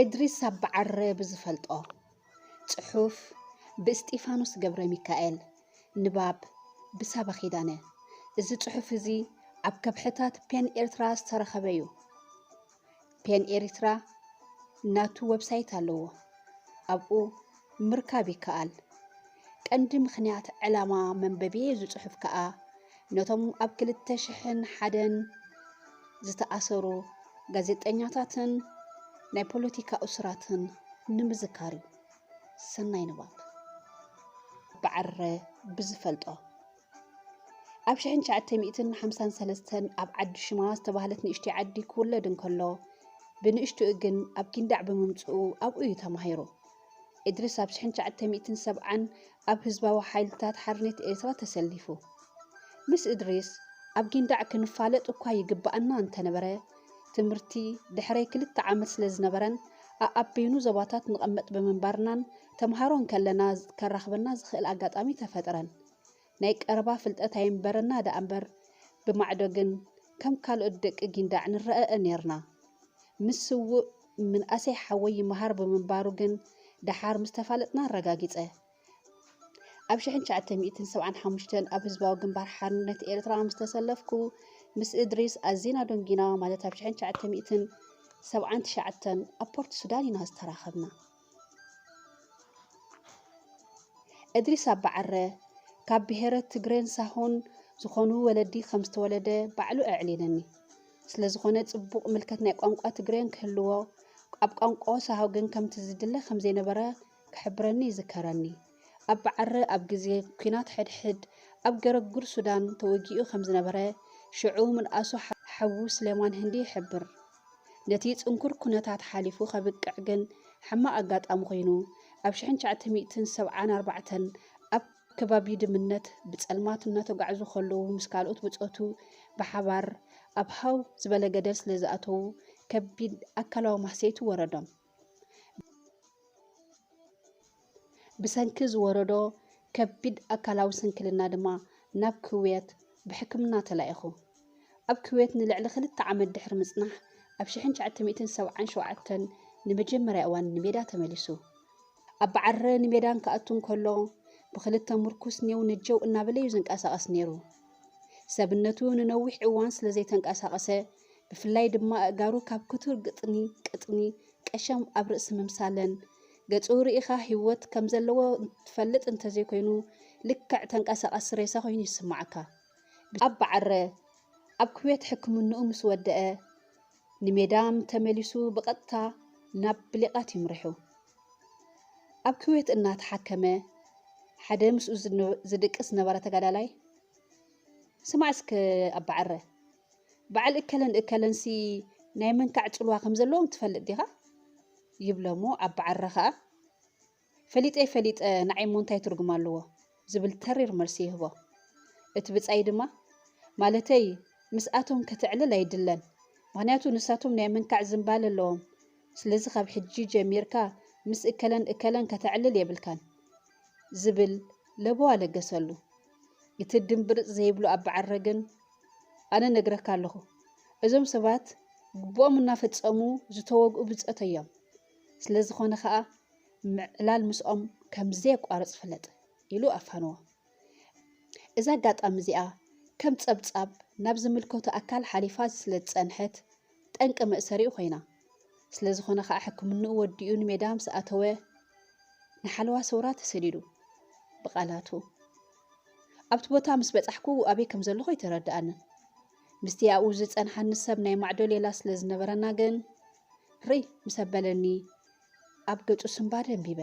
እድሪስ ኣባዓረ ብዝፈልጦ ጽሑፍ ብእስጢፋኖስ ገብረሚካኤል ንባብ ብሳባ ኪዳነ እዚ ጽሑፍ እዚ ኣብ ከብሕታት ፔን ኤርትራ ዝተረኸበ እዩ። ፔን ኤሪትራ ናቱ ወብሳይት ኣለዎ ኣብኡ ምርካብ ይከኣል። ቀንዲ ምኽንያት ዕላማ መንበቢ እዚ ጽሑፍ ከኣ ነቶም ኣብ ክልተ ሽሕን ሓደን ዝተኣሰሩ ጋዜጠኛታትን ናይ ፖለቲካ እሱራትን ንምዝካር እዩ። ሰናይ ንባብ። ብዓርረ ብዝፈልጦ ኣብ ሽሕን ትሽዓተ ሚእትን ሓምሳን ሰለስተን ኣብ ዓዲ ሽማ ዝተባህለት ንእሽተይ ዓዲ ክውለድ እንከሎ፣ ብንእሽትኡ ግን ኣብ ጊንዳዕ ብምምጽኡ ኣብኡ እዩ ተማሂሩ። እድሪስ ኣብ ሽሕን ትሽዓተ ሚእትን ሰብዓን ኣብ ህዝባዊ ሓይልታት ሓርነት ኤርትራ ተሰሊፉ። ምስ እድሪስ ኣብ ጊንዳዕ ክንፋለጥ እኳ ይግብኣና እንተነበረ፣ ትምህርቲ ድሕሪ ክልተ ዓመት ስለዝነበረን ኣኣብ በይኑ ዞባታት ንቐመጥ ብምንባርናን ተማሃሮ እንከለና ከራኽበና ዝኽእል ኣጋጣሚ ተፈጥረን። ናይ ቀረባ ፍልጠት ኣይንበረና ደኣ'ምበር፣ ብማዕዶ ግን ከም ካልኦት ደቂ ጊንዳዕ ንረኣእ ኔርና። ምስ ስዉእ ምንኣሰይ ሓወይ ይመሃር ብምንባሩ ግን ደሓር ምስ ተፋለጥና ኣረጋጊጸ። ኣብ ሽሕን ትሽዓተ ሚእትን ሰብዓን ሓሙሽተን ኣብ ህዝባዊ ግንባር ሓርነት ኤርትራ ምስ ተሰለፍኩ፣ ምስ እድሪስ ኣዚና ደንጒና፣ ማለት ኣብ ሽሕን ትሽዓተ ሚእትን ሰብዓን ትሽዓተን ኣብ ፖርት ሱዳን ኢና ዝተራኸብና። እድሪስ ኣባዓረ ካብ ብሄረ ትግሬን ሳሆን ዝኾኑ ወለዲ ከም ዝተወለደ ባዕሉ ኣዕሊልኒ። ስለ ዝኾነ ጽቡቕ ምልከት ናይ ቋንቋ ትግሬን ክህልዎ፣ ኣብ ቋንቋ ሳሆ ግን ከምቲ ዝድለ ከም ዘይነበረ ክሕብረኒ ይዝከረኒ። ኣብ ባዓረ ኣብ ግዜ ኩናት ሕድሕድ ኣብ ገረግር ሱዳን ተወጊኡ ከም ዝነበረ ሽዑ ምንኣሱ ሓዉ ስሌማን ህንዲ ይሕብር። ነቲ ጽንኩር ኩነታት ሓሊፉ ከብቅዕ ግን ሕማቕ ኣጋጣሚ ኮይኑ ኣብ ሽሕን ትሽዓተ ሚእትን ሰብዓን ኣርባዕተን ኣብ ከባቢ ድምነት ብጸልማት እናተጓዕዙ ከለዉ ምስ ካልኦት ብጾቱ ብሓባር ኣብ ሃው ዝበለ ገደል ስለ ዝኣተዉ ከቢድ ኣካላዊ ማህሰይቲ ወረዶም። ብሰንኪ ዝወረዶ ከቢድ ኣካላዊ ስንክልና ድማ ናብ ኩዌት ብሕክምና ተላኢኹ። ኣብ ኩዌት ንልዕሊ ክልተ ዓመት ድሕሪ ምጽናሕ፣ ኣብ ሽሕን ትሽዓተ ሚእትን ሰብዓን ሸውዓተን ንመጀመርያ እዋን ንሜዳ ተመሊሱ። ኣብ ባዓረ ንሜዳ እንክኣቱ እንከሎ፣ ብክልተ ምርኩስ ኔው ነጀው እናበለ'ዩ ዝንቀሳቐስ ነይሩ። ሰብነቱ ንነዊሕ እዋን ስለዘይተንቀሳቐሰ ብፍላይ ድማ ኣእጋሩ ካብ ክቱር ግጥኒ፣ ቅጥኒ፣ ቀሸም ኣብ ርእሲ ምምሳለን። ገጹ ርኢኻ ህይወት ከም ዘለዎ ትፈልጥ እንተ ዘይኮይኑ ልክዕ ተንቀሳቓሲ ሬሳ ኮይኑ ይስምዓካ። ኣብ ባዓረ ኣብ ኩዌት ሕክምንኡ ምስ ወደኣ ንሜዳም ተመሊሱ ብቐጥታ ናብ ብሊቓት ይምርሑ። ኣብ ኩዌት እናተሓከመ ሓደ ምስኡ ዝድቅስ ዝነበረ ተጋዳላይ ስማዕ እስከ ኣብ ባዓረ። በዓል እከለን እከለንሲ ናይ ምንካዕ ጽልዋ ከም ዘለዎም ትፈልጥ ዲኻ? ይብለ'ሞ ኣባዓረ ኸኣ ፈሊጠይ ፈሊጠ ንዓይ'ሞ እንታይ ትርጉም ኣለዎ? ዝብል ተሪር መልሲ ይህቦ። እቲ ብጻይ ድማ ማለተይ ምስኣቶም ከተዕልል ኣይድለን፣ ምኽንያቱ ንሳቶም ናይ ምንካዕ ዝንባለ ኣለዎም፣ ስለዚ ካብ ሕጂ ጀሚርካ ምስ እከለን እከለን ከተዕልል የብልካን። ዝብል ለበዋ ለገሰሉ። እቲ ድምብርጽ ዘይብሉ ኣበዓረ ግን ኣነ እነግረካ ኣለኹ እዞም ሰባት ግቡኦም እናፈጸሙ ዝተወግኡ ብጸት እዮም ስለ ዝኾነ ኸኣ ምዕላል ምስኦም ከም ዘየቋርጽ ፍለጥ ኢሉ ኣፋንዎ እዛ ኣጋጣሚ እዚኣ ከም ጸብጻብ ናብ ዝምልከቶ ኣካል ሓሊፋ ስለ ዝጸንሐት ጠንቂ መእሰሪኡ ኮይና። ስለ ዝኾነ ከኣ ሕክምንኡ ወዲኡ ንሜዳ ምስ ኣተወ ንሓለዋ ሰውራ ተሰዲዱ። ብቓላቱ ኣብቲ ቦታ ምስ በጻሕኩ ኣበይ ከም ዘለኹ ኣይተረድኣንን። ምስቲ ኣብኡ ዝጸንሓኒ ሰብ ናይ ማዕዶ ሌላ ስለ ዝነበረና ግን ርይ ምስ ኣበለኒ ኣብ ገጹ ስምባ ደንቢበ።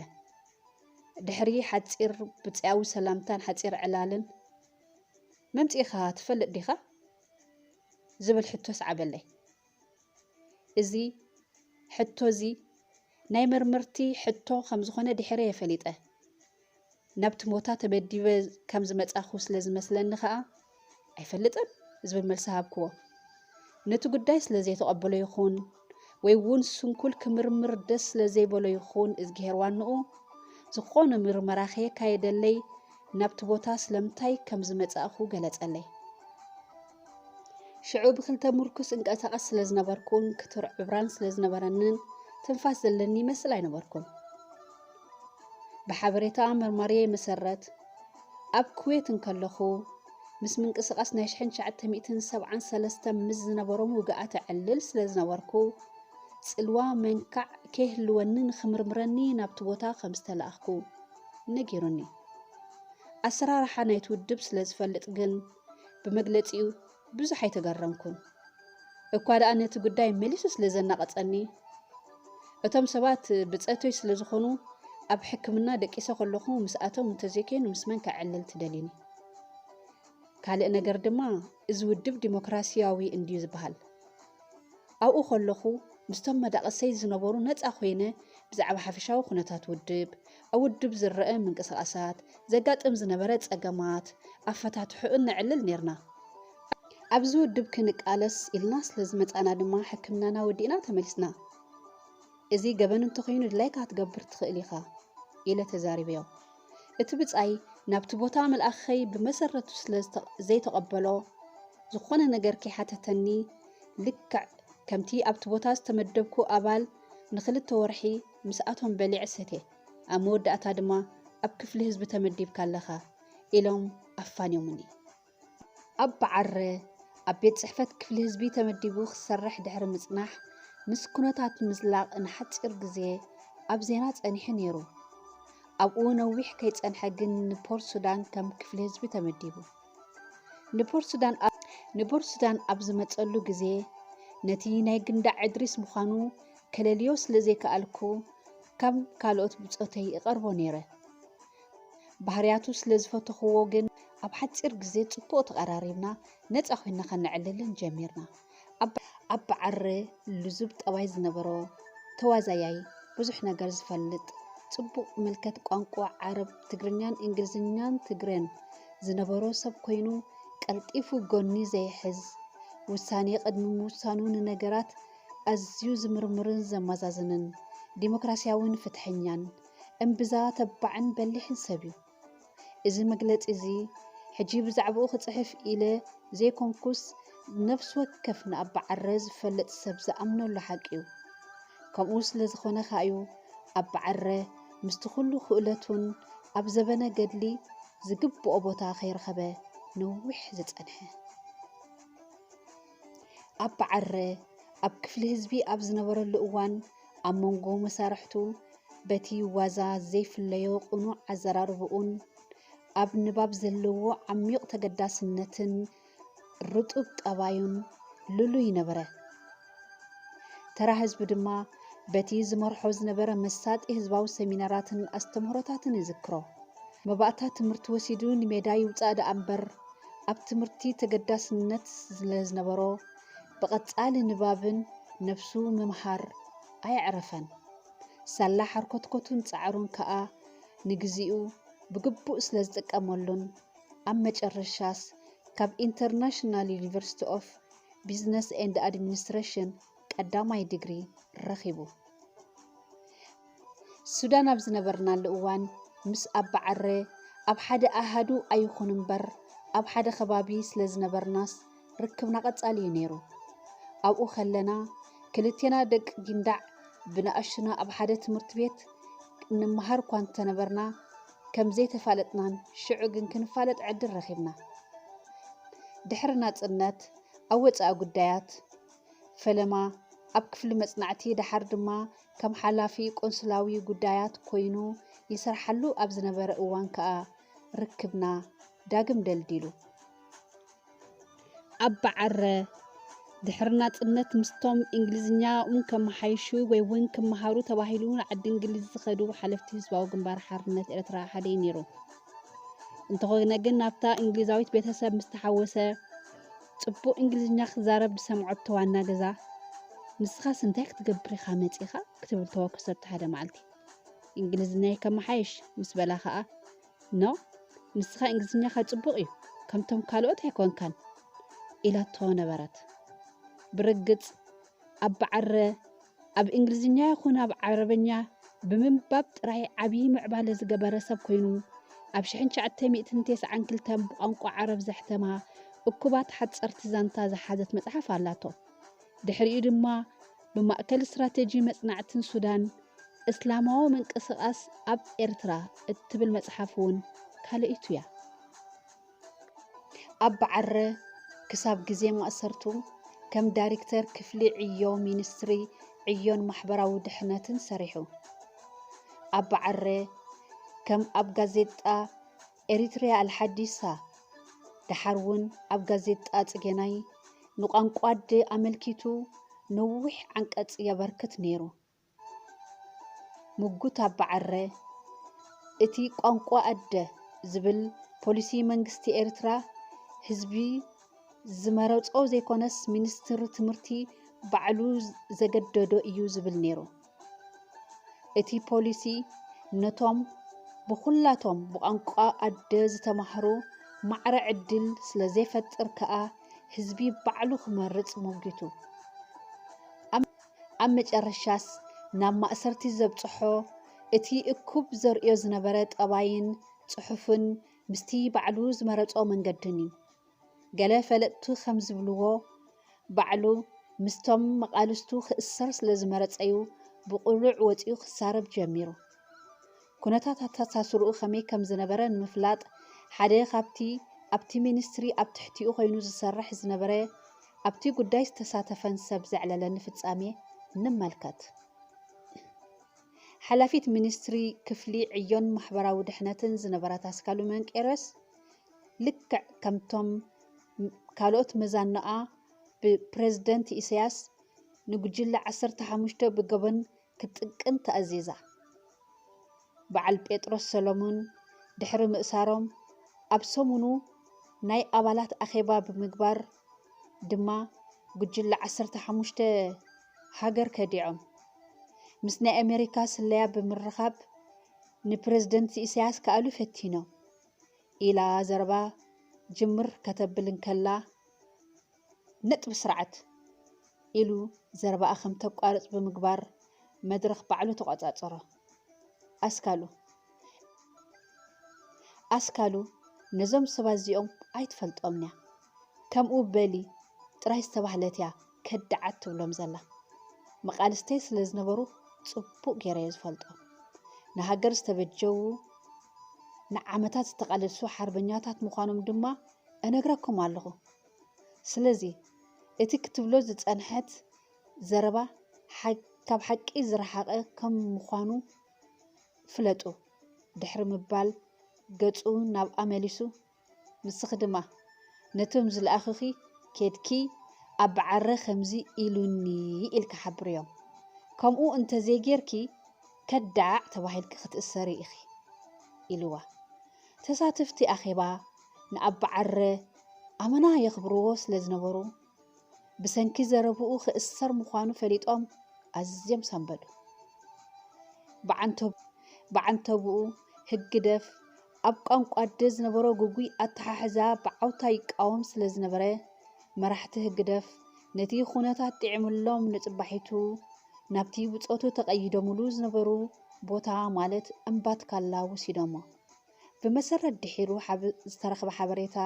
ድሕሪ ሓጺር ብጽያዊ ሰላምታን ሓጺር ዕላልን መምጺኻ ትፈልጥ ዲኻ? ዝብል ሕቶ ኣስዓበለይ። እዚ ሕቶ እዚ ናይ መርመርቲ ሕቶ ከም ዝኾነ ድሕረ እየ ፈሊጠ። ናብቲ ሞታ ተመዲበ ከም ዝመጻኹ ስለ ዝመስለኒ ኸኣ ኣይፈልጥን ዝብል መልሲ ሃብክዎ። ነቲ ጉዳይ ስለ ዘይተቐበሎ ይኹን ወይ ውን ስንኩል ክምርምር ደስ ስለ ዘይበሎ ይኽውን እዝግሄር ዋንኡ ዝኾነ ምርመራ ከየካየደለይ ናብቲ ቦታ ስለምንታይ ከም ዝመጻእኩ ገለጸለይ። ሽዑ ብክልተ ምርኩስ እንቀሳቐስ ስለ ዝነበርኩን ክቱር ዕብራን ስለ ዝነበረንን ትንፋስ ዘለኒ ይመስል ኣይነበርኩን። ብሓበሬታ መርማሪየይ መሰረት፣ ኣብ ኩዌት እንከለኹ፣ ምስ ምንቅስቓስ ናይ ሽሕን ትሽዓተ ሚእትን ሰብዓን ሰለስተን ምስ ዝነበሮም ውግኣት እዕልል ስለ ዝነበርኩ፣ ጽልዋ መንካዕ ከይህልወኒ ንኽምርምረኒ ናብቲ ቦታ ከም ዝተላእኽኩ ነጊሩኒ። ኣሰራርሓ ናይቲ ውድብ ስለ ዝፈልጥ ግን፣ ብመግለጺኡ ብዙሕ ኣይተገረምኩን፣ እኳ ደኣ ነቲ ጉዳይ መሊሱ ስለ ዘናቐጸኒ። እቶም ሰባት ብጸቶይ ስለ ዝኾኑ፣ ኣብ ሕክምና ደቂሰ ከለኹ ምስኣቶም እንተ ዘይኴይኑ ምስ መን ከዕልል ትደልዩኒ? ካልእ ነገር ድማ እዚ ውድብ ዲሞክራሲያዊ እንድዩ ዝበሃል። ኣብኡ ከለኹ ምስቶም መዳቕሰይ ዝነበሩ ነጻ ኮይነ ብዛዕባ ሓፈሻዊ ኩነታት ውድብ፣ ኣብ ውድብ ዝረኣ ምንቅስቓሳት ዘጋጥም ዝነበረ ጸገማት ኣፈታትሕኡ እነዕልል ኔርና። ኣብዚ ውድብ ክንቃለስ ኢልና ስለ ዝመጻእና ድማ ሕክምናና ወዲእና ተመሊስና። እዚ ገበን እንተኾይኑ ድላይካ ክትገብር ትኽእል ኢኻ ኢለ ተዛሪበዮ። እቲ ብጻይ ናብቲ ቦታ ምልኣኸይ ብመሰረቱ ስለ ዘይተቐበሎ ዝኾነ ነገር ከይሓተተኒ ልክዕ ከምቲ ኣብቲ ቦታ ዝተመደብኩ ኣባል ንክልተ ወርሒ ምስኣቶም በሊዐ ሰትየ ኣብ መወዳእታ ድማ ኣብ ክፍሊ ህዝቢ ተመዲብካ ኣለኻ ኢሎም ኣፋንዮምኒ። ኣባ ዓረ ኣብ ቤት ጽሕፈት ክፍሊ ህዝቢ ተመዲቡ ክሰርሕ ድሕሪ ምጽናሕ ምስ ኩነታት ምዝላቕ ንሓጺር ግዜ ኣብ ዜና ጸኒሑ ነይሩ። ኣብኡ ነዊሕ ከይጸንሐ ግን ንፖርት ሱዳን ከም ክፍሊ ህዝቢ ተመዲቡ። ንፖርት ሱዳን ንቦርት ሱዳን ኣብ ዝመጸሉ ግዜ ነቲ ናይ ግንዳዕ እድሪስ ምዃኑ ከለልዮ ስለ ዘይከኣልኩ ካብ ካልኦት ብጾተይ እቐርቦ ነይረ። ባህርያቱ ስለ ዝፈተኹዎ ግን ኣብ ሓጺር ግዜ ጽቡቕ ተቐራሪብና ነጻ ኮይና ከነዕልልን ጀሚርና። ኣባ ዓረ ልዙብ ጠባይ ዝነበሮ፣ ተዋዛያይ፣ ብዙሕ ነገር ዝፈልጥ፣ ጽቡቕ ምልከት ቋንቋ ዓረብ፣ ትግርኛን እንግሊዝኛን ትግረን ዝነበሮ ሰብ ኮይኑ ቀልጢፉ ጎኒ ዘይሕዝ፣ ውሳኔ ቅድሚ ምውሳኑ ንነገራት ኣዝዩ ዝምርምርን ዘማዛዝንን ዲሞክራሲያዊን ፍትሐኛን እምብዛ ተባዕን በሊሕን ሰብ እዩ። እዚ መግለጺ እዚ ሕጂ ብዛዕባኡ ክጽሕፍ ኢለ ዘይኮንኩስ ነፍሲ ወከፍ ንኣባ ዓረ ዝፈልጥ ሰብ ዝኣምነሉ ሓቂ እዩ። ከምኡ ስለ ዝኾነ ከኣ እዩ ኣባ ዓረ ምስቲ ኩሉ ክእለቱን ኣብ ዘበነ ገድሊ ዝግብኦ ቦታ ከይረኸበ ነዊሕ ዝጸንሐ። ኣባ ዓረ ኣብ ክፍሊ ህዝቢ ኣብ ዝነበረሉ እዋን ኣብ መንጎ መሳርሕቱ በቲ ዋዛ ዘይፍለዮ ቅኑዕ ኣዘራርብኡን ኣብ ንባብ ዘለዎ ዓሚቕ ተገዳስነትን ርጡብ ጠባዩን ልሉይ ነበረ። ተራ ህዝቢ ድማ በቲ ዝመርሖ ዝነበረ መሳጢ ህዝባዊ ሰሚናራትን ኣስተምህሮታትን ይዝክሮ። መባእታ ትምህርቲ ወሲዱ ንሜዳ ይውፃእ ደኣ እምበር ኣብ ትምህርቲ ተገዳስነት ስለዝነበሮ ብቐጻሊ ንባብን ነብሱ ምምሃር ኣየዕረፈን። ሳላ ሓርኮትኮቱን ጻዕሩን ከኣ ንግዜኡ ብግቡእ ስለዝጥቀመሉን ኣብ መጨረሻስ ካብ ኢንተርናሽናል ዩኒቨርሲቲ ኦፍ ቢዝነስ ኤንድ ኣድሚኒስትረሽን ቀዳማይ ዲግሪ ረኺቡ። ሱዳን ኣብ ዝነበርናሉ እዋን ምስ ኣባዓረ ኣብ ሓደ ኣሃዱ ኣይኹን እምበር ኣብ ሓደ ከባቢ ስለ ዝነበርናስ ርክብና ቀጻሊ እዩ ነይሩ። ኣብኡ ከለና ክልቴና ደቂ ጊንዳዕ ብንኣሽቱና ኣብ ሓደ ትምህርቲ ቤት እንመሃር እኳ እንተነበርና ከም ዘይተፋለጥናን ሽዑ ግን ክንፋለጥ ዕድል ረኺብና። ድሕሪ ናጽነት ኣብ ወጻኢ ጉዳያት ፈለማ ኣብ ክፍሊ መጽናዕቲ ደሓር ድማ ከም ሓላፊ ቆንስላዊ ጉዳያት ኮይኑ ይሰርሓሉ ኣብ ዝነበረ እዋን ከኣ ርክብና ዳግም ደልዲሉ። ኣብ በዓረ ድሕሪ ናጽነት ምስቶም እንግሊዝኛኦም ከመሓይሹ ወይ እውን ክመሃሩ ተባሂሉ ንዓዲ እንግሊዝ ዝኸዱ ሓለፍቲ ህዝባዊ ግንባር ሓርነት ኤርትራ ሓደ እዩ ነይሩ። እንተኾነ ግን ናብታ እንግሊዛዊት ቤተሰብ ምስ ተሓወሰ ጽቡቕ እንግሊዝኛ ክዛረብ ዝሰምዐቶ ዋና ገዛ፣ ንስኻስ እንታይ ክትገብር ኢኻ መጺእካ? ክትብል ተወከሰቶ ሓደ መዓልቲ። እንግሊዝኛይ ከመሓይሽ ምስ በላ ከኣ፣ ኖ፣ ንስኻ እንግሊዝኛኻ ጽቡቕ እዩ፣ ከምቶም ካልኦት ኣይኮንካን ኢላቶ ነበረት። ብርግጽ ኣብ ብዓረ ኣብ እንግሊዝኛ ይኹን ኣብ ዓረበኛ ብምንባብ ጥራይ ዓብዪ ምዕባለ ዝገበረ ሰብ ኮይኑ ኣብ 1992 ብቋንቋ ዓረብ ዘሕተማ እኩባት ሓጸርቲ ዛንታ ዝሓዘት መጽሓፍ ኣላቶ። ድሕሪኡ ድማ ብማእከል ስትራተጂ መጽናዕትን ሱዳን እስላማዊ ምንቅስቓስ ኣብ ኤርትራ እትብል መጽሓፍ እውን ካልኣይቱ እያ። ኣብ ባዓረ ክሳብ ግዜ ማእሰርቱ ከም ዳሪክተር ክፍሊ ዕዮ ሚንስትሪ ዕዮን ማሕበራዊ ድሕነትን ሰሪሑ። ኣብ ባዓረ ከም ኣብ ጋዜጣ ኤሪትሪያ ኣልሓዲሳ ደሓር ውን ኣብ ጋዜጣ ጽጌናይ ንቋንቋ ኣደ ኣመልኪቱ ነዊሕ ዓንቀጽ የበርክት ነይሩ። ምጉት ኣባዐረ እቲ ቋንቋ ኣደ ዝብል ፖሊሲ መንግስቲ ኤርትራ ህዝቢ ዝመረጾ ዘይኮነስ ሚኒስትሪ ትምህርቲ ባዕሉ ዘገደዶ እዩ ዝብል ነይሩ። እቲ ፖሊሲ ነቶም ብኹላቶም ብቋንቋ ኣደ ዝተማህሩ ማዕረ ዕድል ስለ ዘይፈጥር ከኣ ህዝቢ ባዕሉ ክመርጽ ሞጊቱ። ኣብ መጨረሻስ ናብ ማእሰርቲ ዘብጽሖ እቲ እኩብ ዘርእዮ ዝነበረ ጠባይን ጽሑፍን ምስቲ ባዕሉ ዝመረጾ መንገድን እዩ። ገለ ፈለጥቱ ከም ዝብልዎ ባዕሉ ምስቶም መቓልስቱ ክእሰር ስለ ዝመረጸ'ዩ ብቕሉዕ ወጺኡ ክሳረብ ጀሚሩ። ኩነታት ኣተኣሳስርኡ ከመይ ከም ዝነበረ ንምፍላጥ ሓደ ካብቲ ኣብቲ ሚኒስትሪ ኣብ ትሕቲኡ ኮይኑ ዝሰርሕ ዝነበረ ኣብቲ ጉዳይ ዝተሳተፈን ሰብ ዘዕለለኒ ፍጻሜ ንመልከት። ሓላፊት ሚኒስትሪ ክፍሊ ዕዮን ማሕበራዊ ድሕነትን ዝነበረት ኣስካሉ መንቄርዮስ ልክዕ ከምቶም ካልኦት መዛኖኣ ብፕረዚደንት ኢሳያስ ንጉጅለ ዓሰርተ ሓሙሽተ ብገበን ክትጥቅን ተኣዚዛ። በዓል ጴጥሮስ ሰሎሙን ድሕሪ ምእሳሮም ኣብ ሰሙኑ ናይ ኣባላት ኣኼባ ብምግባር ድማ ጉጅለ ዓሰርተ ሓሙሽተ ሃገር ከዲዖም። ምስ ናይ ኣሜሪካ ስለያ ብምርኻብ ንፕረዚደንት ኢሳያስ ክኣልዩ ፈቲኖም ኢላ ዘረባ ጅምር ከተብል እንከላ፣ ነጥቢ ስርዓት ኢሉ ዘረባኣ ከም ተቋርጽ ብምግባር መድረኽ ባዕሉ ተቖጻጸሮ። ኣስካሉ ኣስካሉ ነዞም ሰባት እዚኦም ኣይትፈልጦምን'ያ፣ ከምኡ በሊ ጥራይ ዝተባህለት'ያ ከዳዓት ትብሎም ዘላ። መቓልስተይ ስለ ዝነበሩ ጽቡቕ ገይረ'የ ዝፈልጦም። ንሃገር ዝተበጀዉ ንዓመታት ዝተቓለሱ ሓርበኛታት ምዃኖም ድማ እነግረኩም ኣለኹ። ስለዚ እቲ ክትብሎ ዝጸንሐት ዘረባ ካብ ሓቂ ዝረሓቐ ከም ምዃኑ ፍለጡ ድሕሪ ምባል ገጹ ናብኣ መሊሱ ንስኺ ድማ ነቶም ዝለኣኹኺ ኬድኪ ኣብ በዓረ ከምዚ ኢሉኒ ኢልኪ ሓብርዮም ከምኡ እንተዘይጌርኪ ከዳዕ ተባሂልኪ ክትእሰሪ ኢኺ ኢልዋ። ተሳተፍቲ ኣኼባ ንኣባ ዓረ ኣመና የኽብርዎ ስለ ዝነበሩ፣ ብሰንኪ ዘረብኡ ክእሰር ምዃኑ ፈሊጦም ኣዝዮም ሰንበዱ። ብዓንተብኡ ህግደፍ ኣብ ቋንቋ ኣደ ዝነበሮ ግጉይ ኣተሓሕዛ ብዓውታ ይቃወም ስለ ዝነበረ፣ መራሕቲ ህግደፍ ነቲ ኩነታት ጥዒምሎም ንጽባሒቱ ናብቲ ብጾቱ ተቐይዶምሉ ዝነበሩ ቦታ ማለት እምባትካላ ወሲዶሞ። ብመሰረት ድሒሩ ዝተረኽበ ሓበሬታ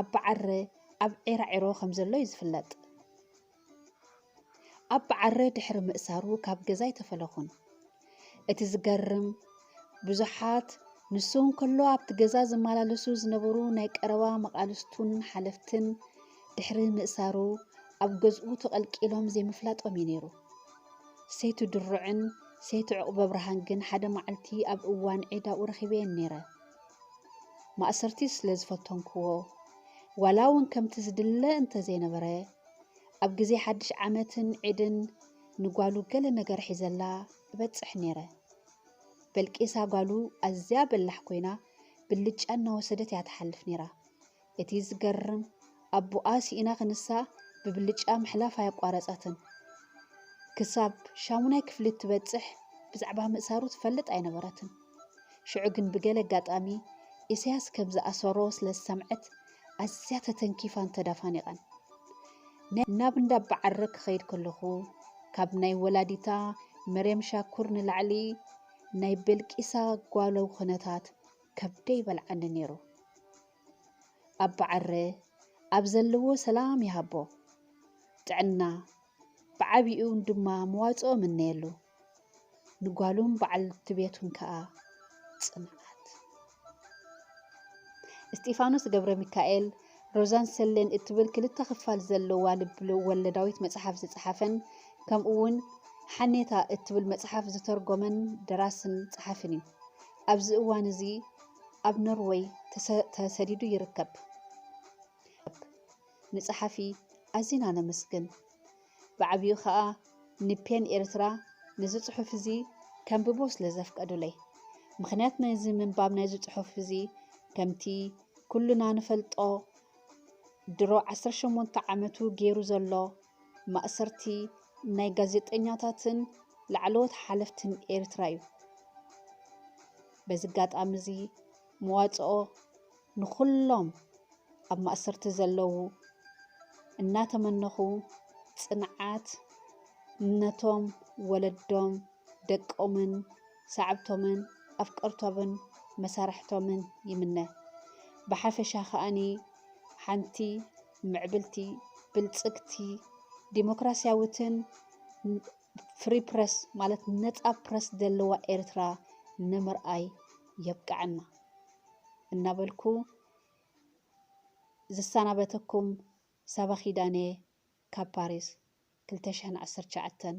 ኣባዓረ ኣብ ዒራዒሮ ከም ዘሎ እዩ ዝፍለጥ። ኣባዓረ ድሕሪ ምእሳሩ ካብ ገዛ ኣይተፈለኹን። እቲ ዝገርም ብዙሓት ንሱ እንከሎ ኣብቲ ገዛ ዝመላለሱ ዝነበሩ ናይ ቀረባ መቓልስቱን ሓለፍትን ድሕሪ ምእሳሩ ኣብ ገዝኡ ተቐልቂሎም ዘይምፍላጦም እዩ ነይሩ ሰይቲ ድሩዕን ሰይቲ ዑቕበብርሃን ግን ሓደ መዓልቲ ኣብ እዋን ዒድ ኣብኡ ረኺበየን ነይረ። ማእሰርቲ ስለ ዝፈተንክዎ፣ ዋላ እውን ከምቲ ዝድለ እንተ ዘይነበረ፣ ኣብ ግዜ ሓድሽ ዓመትን ዒድን ንጓሉ ገለ ነገር ሒዘላ እበጽሕ ነይረ። በልቂሳ ጓሉ ኣዝያ በላሕ ኰይና ብልጫ እናወሰደት እያ ትሓልፍ ነይራ። እቲ ዝገርም ኣቡኣ ሲኢና ክንሳ ብብልጫ ምሕላፍ ኣየቋረጸትን። ክሳብ ሻሙናይ ክፍሊ እትበጽሕ ብዛዕባ ምእሳሩ ትፈልጥ ኣይነበረትን። ሽዑ ግን ብገለ ኣጋጣሚ ኢሰያስ ከም ዝኣሰሮ ስለ ዝሰምዐት ኣዝያ ተተንኪፋን ተዳፋኒቓን። ናብ እንዳ ኣባዓረ ክኸይድ ከለኹ ካብ ናይ ወላዲታ መርየም ሻኩር ንላዕሊ ናይ በልቂሳ ጓሉ ኩነታት ከብደይ ይበልዓኒ ነይሩ። ኣባ ዓረ ኣብ ዘለዎ ሰላም ይሃቦ ጥዕና ብዓቢኡ ድማ መዋጽኦ እምነየሉ ንጓሉን በዓልቲ ቤቱን ከኣ ጽንዓት እስጢፋኖስ ገብረ ሚካኤል ሮዛን ሰሌን እትብል ክልተ ክፋል ዘለዋ ልብ ወለዳዊት መጽሓፍ ዝጸሓፈን ከምኡውን ሓኔታ እትብል መጽሓፍ ዝተርጎመን ደራስን ጸሓፍን እዩ። ኣብዚ እዋን እዚ ኣብ ኖርወይ ተሰዲዱ ይርከብ። ንጸሓፊ ኣዚና ነመስግን። ብዓቢኡ ከኣ ንፔን ኤርትራ ነዚ ጽሑፍ እዚ ከንብቦ ስለ ዘፍቀዱለይ። ምኽንያት ናይዚ ምንባብ ናይዚ ጽሑፍ እዚ ከምቲ ኩሉና ንፈልጦ ድሮ 18 ዓመቱ ገይሩ ዘሎ ማእሰርቲ ናይ ጋዜጠኛታትን ላዕለዎት ሓለፍትን ኤርትራ እዩ። በዚ ኣጋጣሚ እዚ መዋፅኦ ንኹሎም ኣብ ማእሰርቲ ዘለዉ እናተመነኹ ፅንዓት ነቶም ወለዶም፣ ደቆምን፣ ሰዓብቶምን፣ ኣፍቀርቶምን መሳርሕቶምን ይምነ። ብሓፈሻ ከኣኒ ሓንቲ ምዕብልቲ፣ ብልፅግቲ፣ ዲሞክራስያዊትን ፍሪ ፕረስ ማለት ነጻ ፕረስ ዘለዋ ኤርትራ ንምርኣይ የብቀዐና እናበልኩ ዝሰናበተኩም ሳባ ኪዳነየ ካብ ፓሪስ ክልተ ሽሕን ዓሰርተ ትሽዓተን።